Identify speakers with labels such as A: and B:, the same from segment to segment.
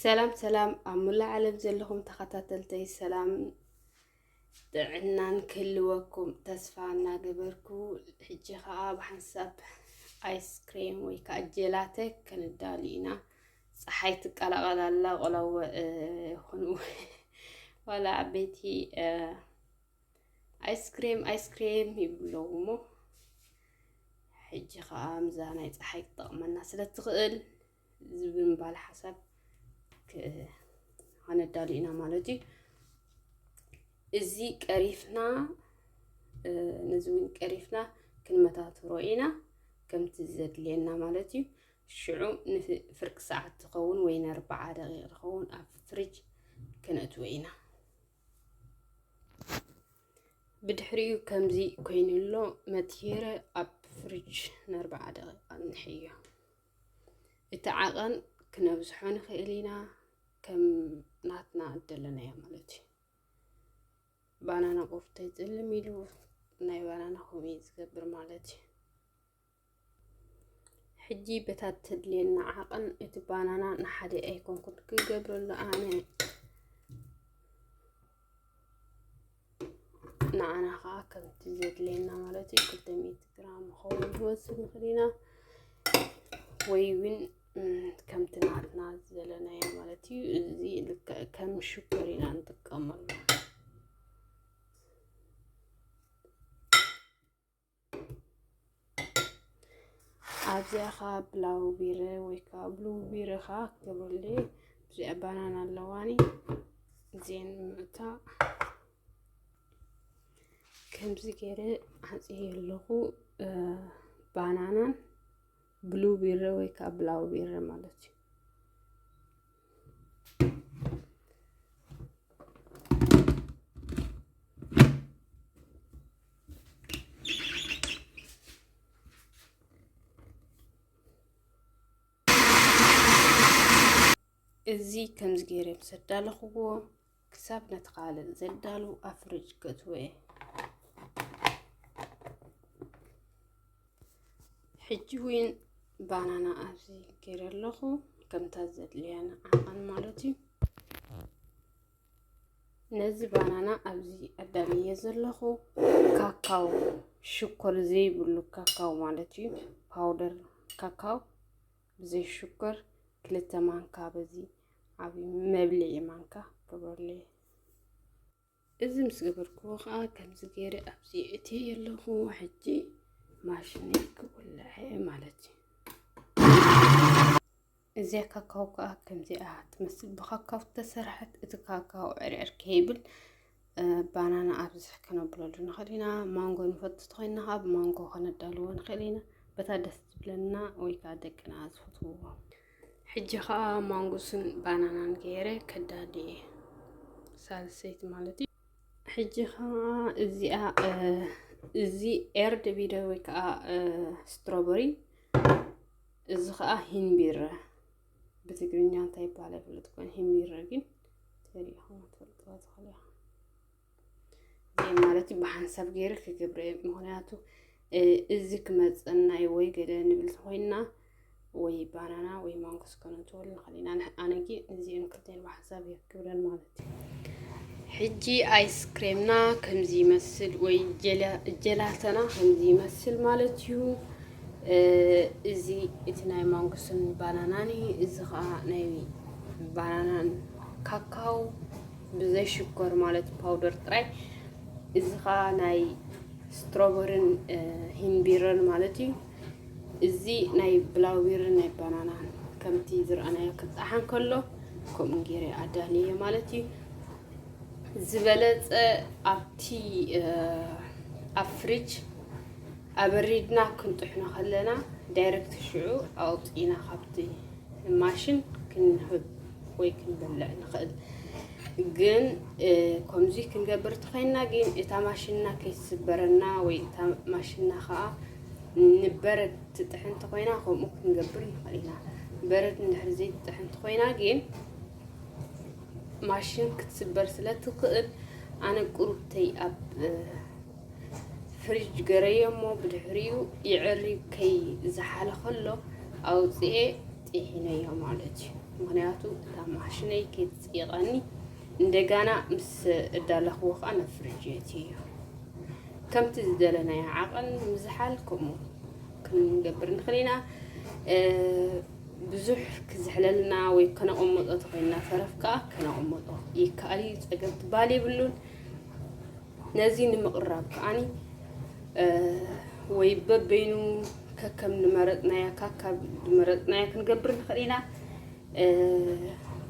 A: ሰላም ሰላም ኣብ ሙላእ ዓለም ዘለኹም ተኸታተልተይ ሰላም ጥዕናን ክህልወኩም ተስፋ እናገበርኩ ሕጂ ከዓ ብሓንሳብ ኣይስክሬም ወይ ከዓ ጀላተ ክንዳሉ ኢና ፀሓይ ትቀላቀል ኣላ ቆላው ይኹኑ ዋላ ዓበይቲ ኣይስክሬም ኣይስክሬም ይብለው እሞ ሕጂ ከዓ ምዛ ናይ ፀሓይ ክጠቕመና ስለ ትኽእል ዝብምባል ሓሳብ ኣነዳሉ ኢና ማለት እዩ እዚ ቀሪፍና ነዚ እውን ቀሪፍና ክንመታትሮ ኢና ከምቲ ዘድልየና ማለት እዩ ሽዑ ንፍርቂ ሰዓት ትኸውን ወይ ንኣርባዓ ደቂቕ ትኸውን ኣብ ፍሪጅ ከነእትዎ ኢና። ብድሕሪኡ ከምዚ ኮይኑ ኣሎ መትሄረ ኣብ ፍሪጅ ንኣርባዓ ደቂቃ ንሕዮ እቲ ዓቐን ክነብዝሖ ንኽእል ኢና ከም ናትና እደለናዮ ማለት እዩ ባናና ቆፍተ ፅልም ኢሉ ናይ ባናና ኮሜ ዝገብር ማለት እዩ ሕጂ በታ ተድልየና ዓቕን እቲ ባናና ንሓደ ኣይኮንኩን ክገብረሉ ኣነ ንዓና ከዓ ከምቲ ዘድልየና ማለት እዩ ክልተ ሚእቲ ግራም ኸውን ንወስድ ንኽእል ኢና ወይ እውን ከምቲ ናትና ዘለናዮ ማለት እዩ እዚ ልክዕ ከም ሽኮር ኢና ንጥቀመሉ ኣብዚኣ ከዓ ብላው ቢረ ወይ ከዓ ብሉ ቢረ ከዓ ክትገብረሉ እዚኣ ባናና ኣለዋኒ እዚአን ምእታ ከምዚ ገይረ ዓፅየ ኣለኹ ባናናን ብሉ ቢረ ወይ ከዓ ብላው ቢረ ማለት እዩ። እዚ ከምዚ ገይረ ምስ ኣዳለኽዎ ክሳብ ነቲ ካልእ ዘዳሉ ኣፍርጅ ከትወየ ሕጂ እውን ባናና ኣብዚ ገይረ ኣለኹ ከምታ ዘድልያ ንዓቐን ማለት እዩ ነዚ ባናና ኣብዚ ኣዳልየ ዘለኹ ካካው ሽኮር ዘይብሉ ካካው ማለት እዩ ፓውደር ካካው ብዘይ ሽኮር ክልተ ማንካ በዚ ዓብዪ መብልዒ ማንካ ግበርለይ። እዚ ምስ ገበርክዎ ከዓ ከምዚ ገይረ ኣብዚ እቲ የለኹ ሕጂ ማሽን ክውልዐ ማለት እዩ። እዚኣ ካካው ከዓ ከምዚኣ ትመስል ብካካው ተሰርሐት። እቲ ካካው ዕርዕር ከይብል ባናና ኣብዚ ክነብለሉ ንኽእል ኢና ማንጎ ንፈቱ ተኮይንና ከዓ ብማንጎ ከነዳልዎ ንኽእል ኢና በታ ደስ ዝብለና ወይ ከዓ ደቅና ዝፈትውዎ ሕጂ ከዓ ማንጉስን ባናናን ገይረ ከዳሊ እየ ሳልሰይቲ ማለት እዩ ሕጂ ከዓ እዚኣ እዚ ኤርድ ቪደ ወይ ከዓ ስትሮበሪ እዚ ከዓ ሂንቢረ ብትግርኛ እንታይ ይባሃል ኣይፍለጥ ኮን ሂሚረ ግን ተሪኢኹም ትፈልጥዋ ትኽእሉ ኢኹም ማለት እዩ ብሓንሳብ ገይረ ክገብረ ምክንያቱ እዚ ክመፀና እዩ ወይ ገለ ንብል ኮይና ወይ ባናና ወይ ማንጎ ስከነትወል ንኽእል ኢና ኣነ ግን እዚኦም ክልቲኦም ብሓንሳብ እየ ክገብረን ማለት እዩ ሕጂ ኣይስክሬምና ከምዚ ይመስል ወይ ጀላተና ከምዚ ይመስል ማለት እዩ። እዚ እቲ ናይ ማንጉስን ባናናን እዩ። እዚ ከዓ ናይ ባናናን ካካው ብዘይ ሽኮር ማለት ፓውደር ጥራይ። እዚ ከዓ ናይ ስትሮበርን ሂምቢረን ማለት እዩ። እዚ ናይ ብላውቤርን ናይ ባናናን ከምቲ ዝረኣናዮ ክጣሓን ከሎ ከምኡ ገይረ ኣዳልየ ማለት እዩ ዝበለፀ ኣብቲ ኣብ ፍሪጅ ኣበሪድና ክንጥሕኖ ከለና ዳይረክት ሽዑ ኣውፅኢና ካብቲ ማሽን ክንህብ ወይ ክንበልዕ ንኽእል ግን ከምዚ ክንገብር ተኸይና ግን እታ ማሽንና ከይትስበረና ወይ እታ ማሽንና ከዓ ንበረድ ትጥሕን ተኾይና ከምኡ ክንገብር ንኽእል ኢና በረድ እንድሕር ዘይትጥሕን ተኾይና ግን ማሽን ክትስበር ስለ ትኽእል ኣነ ቁሩብተይ ኣብ ፍሪጅ ገረዮ እሞ ብድሕሪኡ ይዕሪ ከይ ዝሓለ ከሎ ኣውፅኤ ጢሒነዮ ማለት እዩ ምክንያቱ እታ ማሽነይ ከይትፅይቐኒ እንደጋና ምስ እዳለኽዎ ከዓ ናብ ፍሪጅ የትዮ ከምቲ ዝደለናዮ ዓቐን ምዝሓል ከምኡ ክንገብር ንኽእል ኢና። ብዙሕ ክዝሕለልና ወይ ከነቐመጦ ተኮይንና ተረፍ ከዓ ከነቐመጦ ይከኣል እዩ ፀገም ትበሃል የብሉን ነዚ ንምቕራብ ከዓኒ ወይ በበይኑ ከከም ንመረፅናያ ካካብ ንመረፅናያ ክንገብር ንኽእል ኢና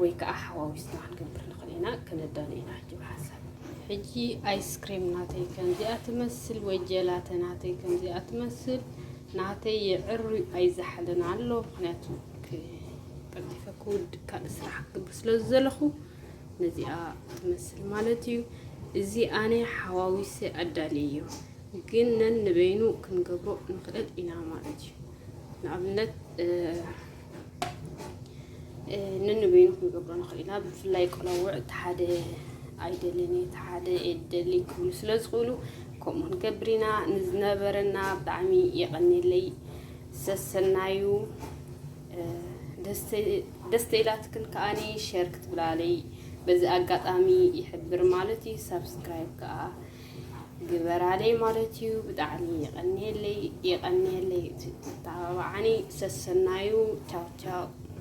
A: ወይ ከኣ ሓዋዊስና ክንገብር ንኽእል ኢና ከነዳሉ ኢና ሕጂ ብሓሳብ ሕጂ ኣይስክሬም ናተይ ከምዚኣ ትመስል ወይ ጀላተ ናተይ ከምዚኣ ትመስል ናተይ የዕሩ ኣይዝሓልን ኣሎ ምክንያቱ ቀልጢፈ ክውድ ካልእ ስራሕ ክገብር ስለ ዘለኹ ነዚኣ ትመስል ማለት እዩ እዚ ኣነ ሓዋዊሰ ኣዳልየዮ ግን ነን ንበይኑ ክንገብሮ ንኽእል ኢና ማለት እዩ ንኣብነት ንንበይኑ ክንገብሮ ንኽእል ኢና ብፍላይ ቆላውዕ እቲ ሓደ ኣይደልን እዩ እቲ ሓደ የደሊ ክብሉ ስለ ዝኽእሉ ከምኡ ክንገብር ኢና ንዝነበረና ብጣዕሚ የቐኒለይ ሰሰናዩ ደስተ ኢላትክን ከዓኒ ሸር ክትብላለይ በዚ ኣጋጣሚ ይሕብር ማለት እዩ ሳብስክራይብ ከዓ ግበራለይ ማለት እዩ። ብጣዕሚ የቐንየለይ የቐንየለይ እቲ ተተባባዓኒ ሰሰናዩ ቻው ቻው።